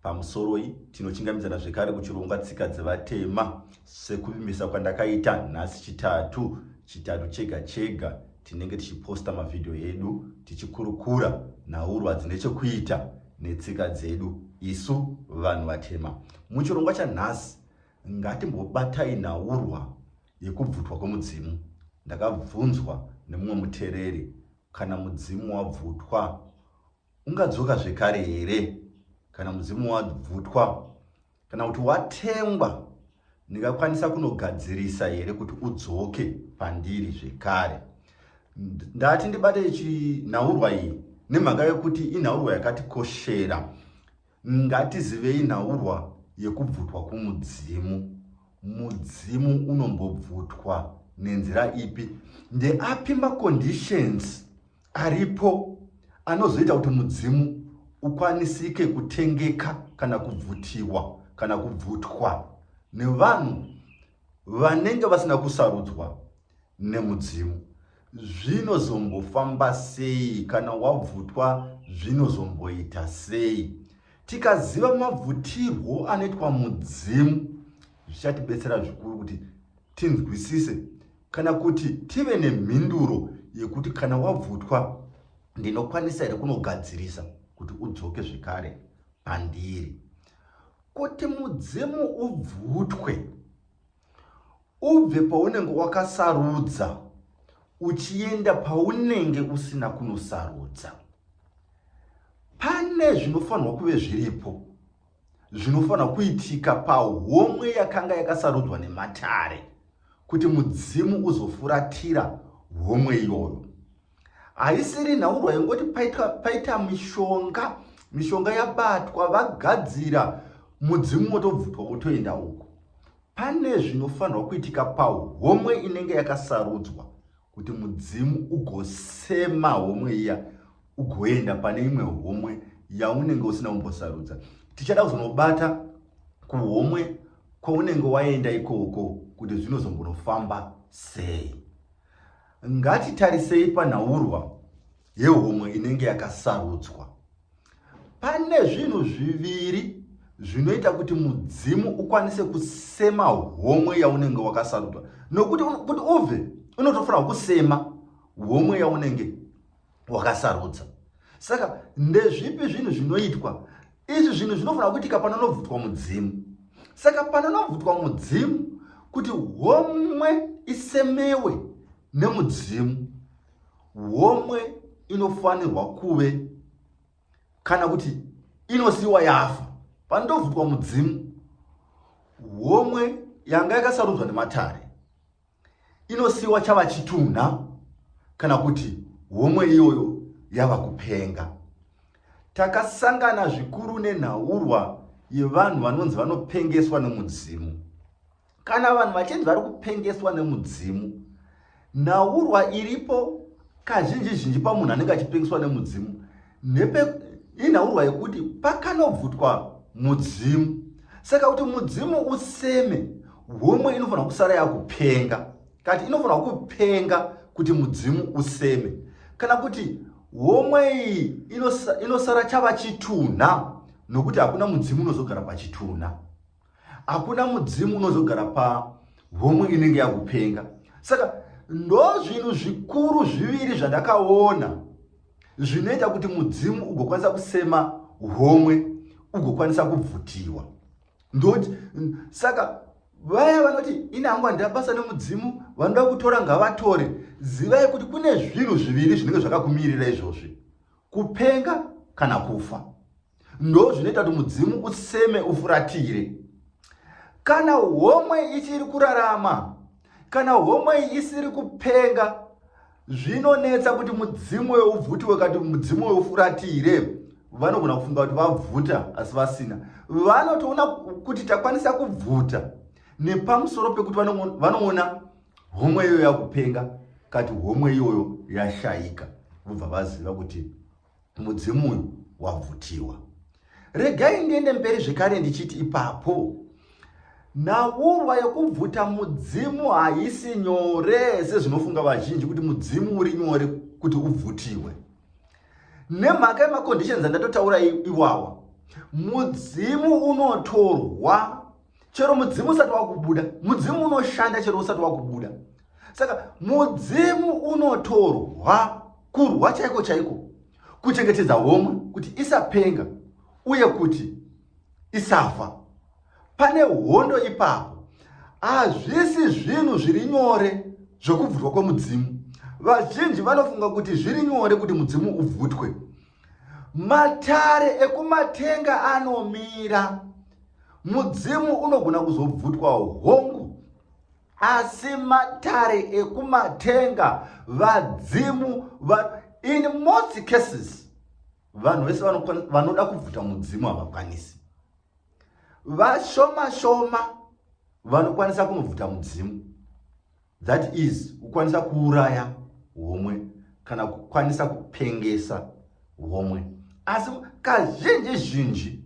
Pamusoroi, tinochingamidzana zvekare kuchirongwa tsika dzevatema sekuvimbisa kwandakaita nhasi chitatu chitatu chega chega tinenge tichiposta mavhidhiyo edu tichikurukura nhaurwa dzine chekuita netsika dzedu isu vanhu vatema muchirongwa chanhasi ngatimbobatai nhaurwa yekubvutwa kwemudzimu ndakabvunzwa nemumwe mutereri kana mudzimu wabvutwa Ungadzoka zvekare here kana mudzimu wabvutwa kana kuti watengwa? Ndingakwanisa kunogadzirisa here kuti udzoke pandiri zvekare? Ndati ndibate chinhaurwa iyi nemhaka yekuti inhaurwa yakatikoshera. Ngatizivei nhaurwa yekubvutwa kumudzimu. Mudzimu unombobvutwa nenzira ipi? Ndeapi maconditions aripo anozoita kuti mudzimu ukwanisike kutengeka kana kubvutiwa kana kubvutwa nevanhu vanenge vasina kusarudzwa nemudzimu zvinozombofamba sei kana wabvutwa zvinozomboita sei tikaziva mabvutirwo anoitwa mudzimu zvichatibetsera zvikuru kuti tinzwisise Kana kuti tive nemhinduro yekuti kana wabvutwa ndinokwanisa here kunogadzirisa kuti udzoke zvekare pandiri. Kuti mudzimu ubvutwe ubve paunenge wakasarudza uchienda paunenge usina kunosarudza pane zvinofanirwa kuve zviripo zvinofanira kuitika pahomwe yakanga yakasarudzwa nematare kuti mudzimu uzofuratira homwe iyoyo haisiri nhaurwa yongoti paita, paita mishonga mishonga yabatwa vagadzira mudzimu wotobvutwa wotoenda uko pane zvinofanirwa kuitika pahomwe inenge yakasarudzwa kuti mudzimu ugosema homwe iya ugoenda pane imwe homwe yaunenge usina kumbosarudza tichada kuzonobata kuhomwe kwaunenge waenda ikoko kuti zvinozombonofamba sei ngatitarisei panhaurwa yehomwe inenge yakasarudzwa Pane zvinhu zviviri zvinoita kuti mudzimu ukwanise kusema homwe yaunenge wakasarudwa nokuti kuti ubve unotofanira kusema homwe yaunenge wakasarudza saka ndezvipi zvinhu zvinoitwa izvi zvinhu zvinofanira kuitika panonobvutwa mudzimu saka panonobvutwa mudzimu kuti homwe isemewe nemudzimu homwe inofanirwa kuve kana kuti inosiyiwa yafa pandobvutwa mudzimu homwe yanga yakasarudzwa nematare inosiyiwa chava chitunha kana kuti homwe iyoyo yava kupenga takasangana zvikuru nenhaurwa yevanhu vanonzi vanopengeswa nomudzimu kana vanhu vachinzi vari kupengeswa nemudzimu nhaurwa iripo kazhinji zhinji pamunhu anenge achipengeswa nemudzimu nepe inhaurwa yekuti pakanobvutwa mudzimu saka kuti mudzimu useme homwe inofanira kusara yakupenga kati inofanira kupenga kuti mudzimu useme kana kuti homwe iyi inosara chava chitunha nokuti hakuna mudzimu unozogara pachitunha hakuna mudzimu unozogara pahomwe inenge yakupenga saka ndo zvinhu zvikuru zviviri zvandakaona zvinoita kuti mudzimu ugokwanisa kusema homwe ugokwanisa kubvutiwa ndoti saka vaya vanoti ini hangu handina basa nemudzimu vanoda kutora ngavatore zivai kuti kune zvinhu zviviri zvinenge zvakakumirira izvozvi kupenga kana kufa ndo zvinoita kuti mudzimu useme ufuratire kana homwe ichiri kurarama kana homwe isiri kupenga zvinonetsa kuti mudzimu weubvuti wakati mudzimu weufuratire vanogona kufunga kuti vabvuta asi vasina vanotoona kuti takwanisa kubvuta nepamusoro pekuti vanoona homwe iyoyo yakupenga kati homwe iyoyo yashaika vobva vaziva kuti Mudzimu uyu wabvutiwa. Regai ndiende mberi zvekare ndichiti ipapo nhaurwa yekubvuta mudzimu haisi nyore sezvinofunga vazhinji kuti mudzimu uri nyore kuti ubvutiwe. Nemhaka yemaconditions andatotaura iwawa, mudzimu unotorwa chero mudzimu usati wakubuda mudzimu unoshanda chero usati wakubuda saka mudzimu unotorwa kurwa chaiko chaiko kuchengetedza homwe kuti isapenga uye kuti isafa pane hondo ipapo hazvisi zvinhu zviri nyore zvokubvutwa kwemudzimu vazhinji vanofunga kuti zviri nyore kuti mudzimu ubvutwe Matare ekumatenga anomira. Mudzimu unogona kuzobvutwawo hongu asi matare ekumatenga vadzimu va, in most cases vanhu vese vanoda kubvuta mudzimu havakwanisi vashoma shoma vanokwanisa kunobvuta mudzimu that is kukwanisa kuuraya homwe kana kukwanisa kupengesa homwe asi kazhinji zhinji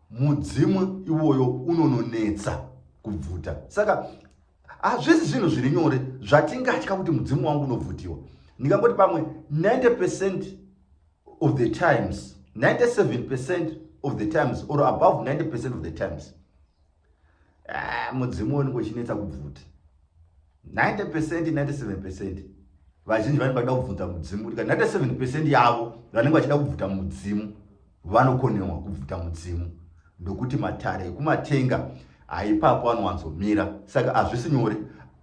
mudzimu iwoyo unononetsa kubvuta saka hazvisi zvinhu zviri nyore zvatingatya kuti mudzimu wangu unobvutiwa ndingangoti pamwe 90 pecent of the times 97 percent of the times or above 90 percent of the times ah, mudzimu woniko chinetsa kubvuta 90 percent 97 percent vazhinji vanenge vachida kubvunza mudzimu kuti ka 97 percent yavo vanenge vachida kubvuta mudzimu vanokonewa kubvuta mudzimu ndokuti matare ekumatenga haipapo anowanzomira saka hazvisi nyore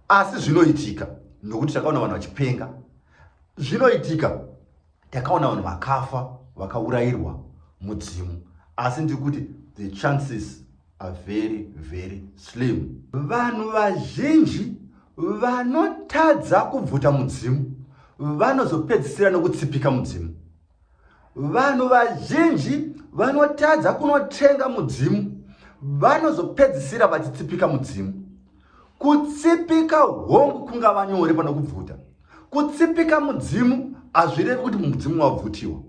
asi zvinoitika nokuti takaona vanhu vachipenga zvinoitika takaona vanhu vakafa vakaurayirwa mudzimu asi ndiri kuti the chances are very very slim vanhu vazhinji vanotadza kubvuta mudzimu vanozopedzisira nokutsipika mudzimu vanhu vazhinji vanotadza kunotenga mudzimu vanozopedzisira vachitsipika mudzimu Kutsipika hongu kungava nyore pano kubvuta. Kutsipika mudzimu hazvirevi kuti mudzimu wabvutiwa.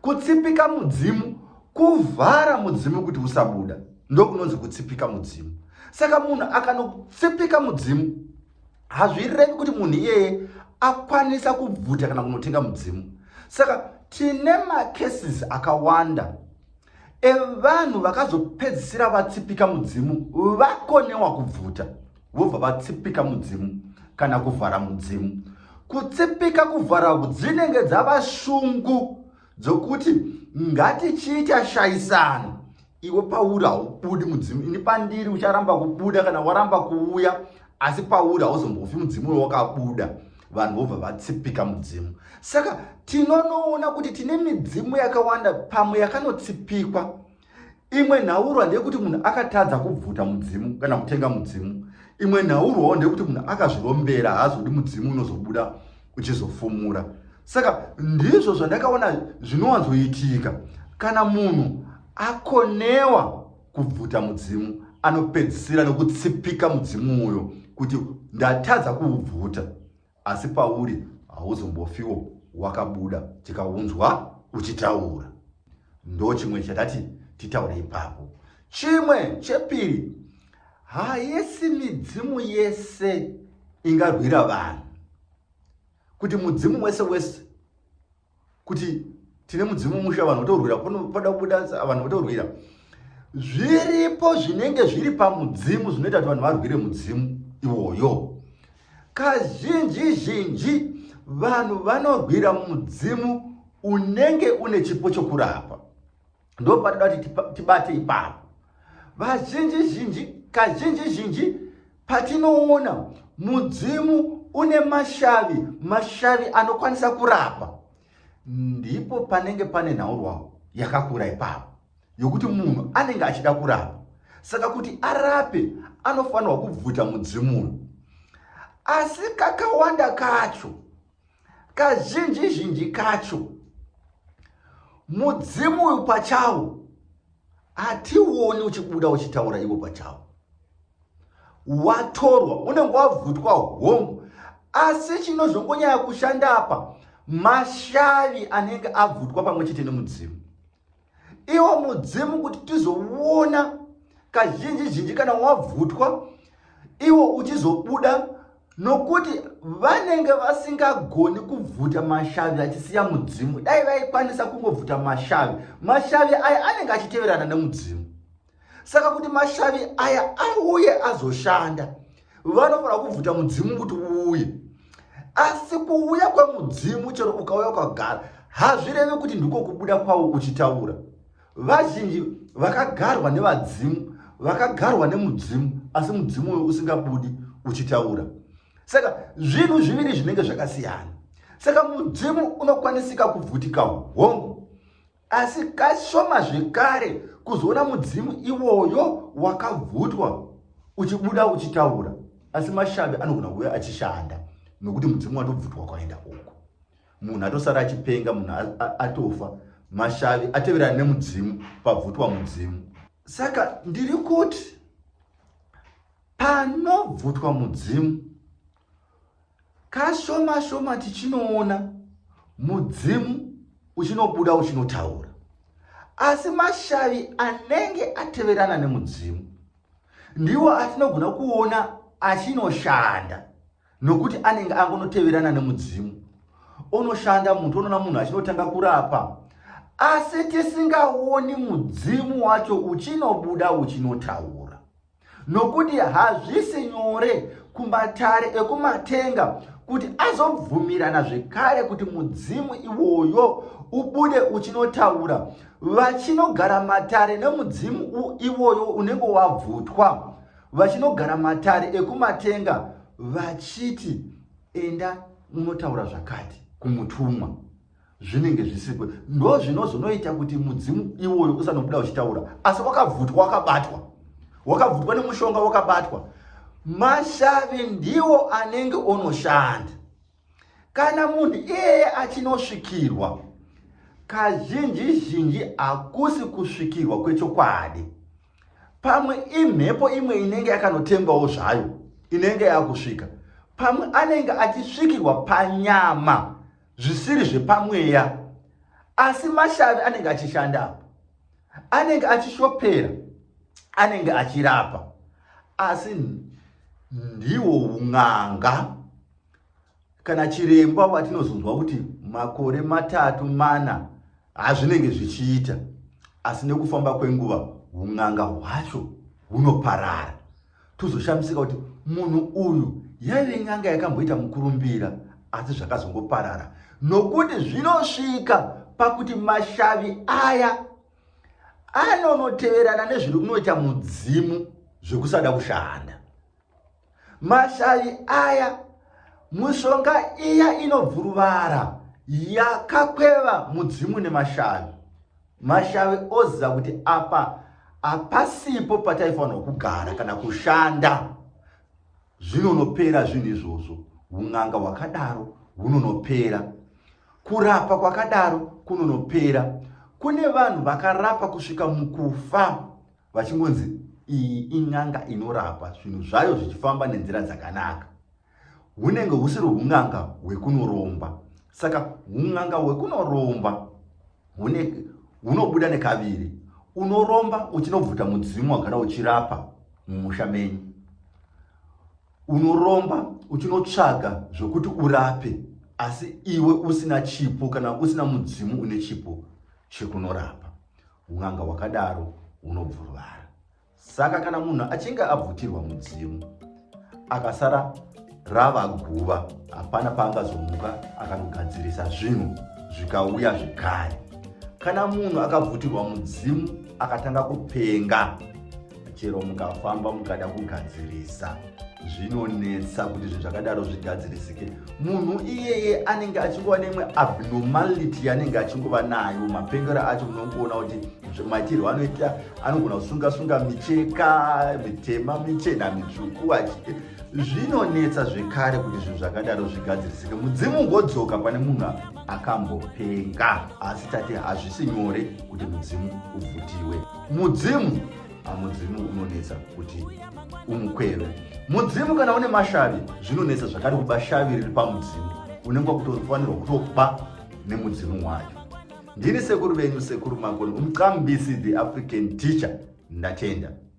Kutsipika mudzimu kuvhara mudzimu kuti usabuda ndokunonzi kutsipika mudzimu. Saka munhu akanotsipika mudzimu hazvirevi kuti munhu iyeye akwanisa kubvuta kana kunotenga mudzimu. Saka tine macases akawanda evanhu vakazopedzisira vatsipika mudzimu vakonewa kubvuta vobva vatsipika mudzimu kana kuvhara mudzimu kutsipika kuvhara dzinenge dzava shungu dzokuti ngatichiita shaisano iwe pauri haubudi mudzimu ini pandiri ucharamba kubuda kana waramba kuuya asi pauri hauzombofi mudzimu wewakabuda vanhu vobva vatsipika mudzimu saka tinonoona kuti tine midzimu yakawanda pamwe yakanotsipikwa imwe nhaurwa ndeyekuti munhu akatadza kubvuta mudzimu kana kutenga mudzimu imwe nhaurwawo ndeyekuti munhu akazvirombera haazodi mudzimu unozobuda uchizofumura saka ndizvo zvandakaona zvinowanzoitika kana munhu akonewa kubvuta mudzimu anopedzisira nokutsipika mudzimu uyo kuti ndatadza kuubvuta asi pauri hauzombofiwo wakabuda tikaunzwa uchitaura ndo chimwe chatati titaure ipapo chimwe chepiri haisi midzimu yese ingarwira vanhu kuti mudzimu wese wese kuti tine mudzimu musha vanhu votorwira pada kubuda vanhu votorwira zviripo zvinenge zviri pamudzimu zvinoita kuti vanhu varwire mudzimu iwoyo kazhinji zhinji vanhu vanorwira mudzimu unenge une chipo chokurapa ndo patida kuti tibate ipapo vazhinji zhinji kazhinji zhinji patinoona mudzimu une mashavi mashavi anokwanisa kurapa ndipo panenge pane nhaurwa yakakura ipapo yokuti munhu anenge achida kurapa saka kuti arape anofanirwa kubvuta mudzimu uyu asi kakawanda kacho Kazhinji zhinji kacho mudzimu uyu pachawo hationi uchibuda uchitaura ivo pachawo watorwa unenge wabvutwa hongu asi chinozongonyaya kushanda apa mashavi anenge abvutwa pamwe chete nemudzimu iwo mudzimu kuti tizoona kazhinji zhinji kana wabvutwa iwo uchizobuda nokuti vanenge vasingagoni kubvuta mashavi achisiya mudzimu dai vaikwanisa kungobvuta mashavi mashavi aya anenge achiteverana nemudzimu saka kuti mashavi aya auye azoshanda vanofanira kubvuta mudzimu kuti uuye asi kuuya kwemudzimu chero ukauya ukagara hazvirevi kuti ndiko kubuda kwavo uchitaura vazhinji vakagarwa nevadzimu vakagarwa nemudzimu asi mudzimu uyo usingabudi uchitaura saka zvinhu zviviri zvinenge zvakasiyana saka mudzimu unokwanisika kubvutika hongu asi kashoma zvekare kuzoona mudzimu iwoyo wakabvutwa uchibuda uchitaura asi mashavi anogona kuuya achishanda nokuti mudzimu watobvutwa kwaenda uko munhu atosara achipenga munhu atofa mashavi ateverana nemudzimu pabvutwa mudzimu saka ndiri kuti panobvutwa mudzimu Kashoma shoma tichinoona mudzimu uchinobuda uchinotaura, asi mashavi anenge ateverana nemudzimu ndiwo atinogona kuona achinoshanda nokuti anenge angonoteverana nemudzimu onoshanda mutu onoona munhu achinotanga kurapa asi tisingaoni mudzimu wacho uchinobuda uchinotaura nokuti hazvisi nyore kumatare ekumatenga kuti azobvumirana zvekare kuti mudzimu iwoyo ubude uchinotaura vachinogara matare nemudzimu iwoyo unenge wabvutwa vachinogara matare ekumatenga vachiti enda unotaura zvakati kumutumwa zvinenge zvisiko ndo zvinozonoita kuti mudzimu iwoyo usanobuda uchitaura asi wakabvutwa wakabatwa wakabvutwa nemushonga wakabatwa mashavi ndiwo anenge onoshanda kana munhu iyeye achinosvikirwa kazhinji zhinji hakusi kusvikirwa kwechokwadi pamwe imhepo imwe inenge yakanotembawo zvayo inenge yakusvika pamwe anenge achisvikirwa panyama zvisiri zvepamweya asi mashavi anenge achishanda apo anenge achishopera anenge achirapa asi ndiwo un'anga kana chiremba vatinozonzwa kuti makore matatu mana hazvinenge zvichiita asi nekufamba kwenguva un'anga hwacho hunoparara tozoshamisika kuti munhu uyu yaive nyanga yakamboita mukurumbira asi zvakazongoparara nokuti zvinosvika pakuti mashavi aya anonoteverana nezviri kunoita mudzimu zvekusada kushanda mashavi aya mushonga iya inobvuruvara yakakweva mudzimu nemashavi Mashave oziva kuti apa hapasipo pataifanirwa kugara kana kushanda zvinonopera zvinhu izvozvo un'anga hwakadaro hunonopera kurapa kwakadaro kunonopera kune vanhu vakarapa kusvika mukufa vachingonzi iyi in'anga inorapa zvinhu zvayo zvichifamba nenzira dzakanaka hunenge husiri hun'anga hwekunoromba saka hun'anga hwekunoromba hunobuda nekaviri unoromba uchinobvuta mudzimu wagara uchirapa mumusha menyu unoromba uchinotsvaga zvokuti urape asi iwe usina chipo kana usina mudzimu une chipo chekunorapa un'anga hwakadaro hunobvuruvara Saka kana munhu achinge abvutirwa mudzimu akasara rava guva, hapana paangazomuka akanogadzirisa zvinhu zvikauya zvekare. Kana munhu akabvutirwa mudzimu akatanga kupenga, chero mukafamba mukada kugadzirisa zvinonetsa kuti zvinhu zvakadaro zvigadzirisike munhu iyeye anenge achingova neimwe abnormality yaanenge achingova nayo mapengero acho munongoona kuti maitirwo anoita anogona kusunga sunga micheka mitema michena mitsvuku achite zvinonetsa zvekare kuti zvinhu zvakadaro zvigadzirisike mudzimu ungodzoka pane munhu akambopenga asi tati hazvisi nyore kuti mudzimu uvhutiwe mudzimu mudzimu unonetsa kuti umukweve mudzimu kana une mashavi zvinonetsa zvakare kuba shavi riri pamudzimu unenge wakutofanirwa kutoba nemudzimu wayo ndini sekuru venyu sekuru makoni umqambisi the african teacher ndatenda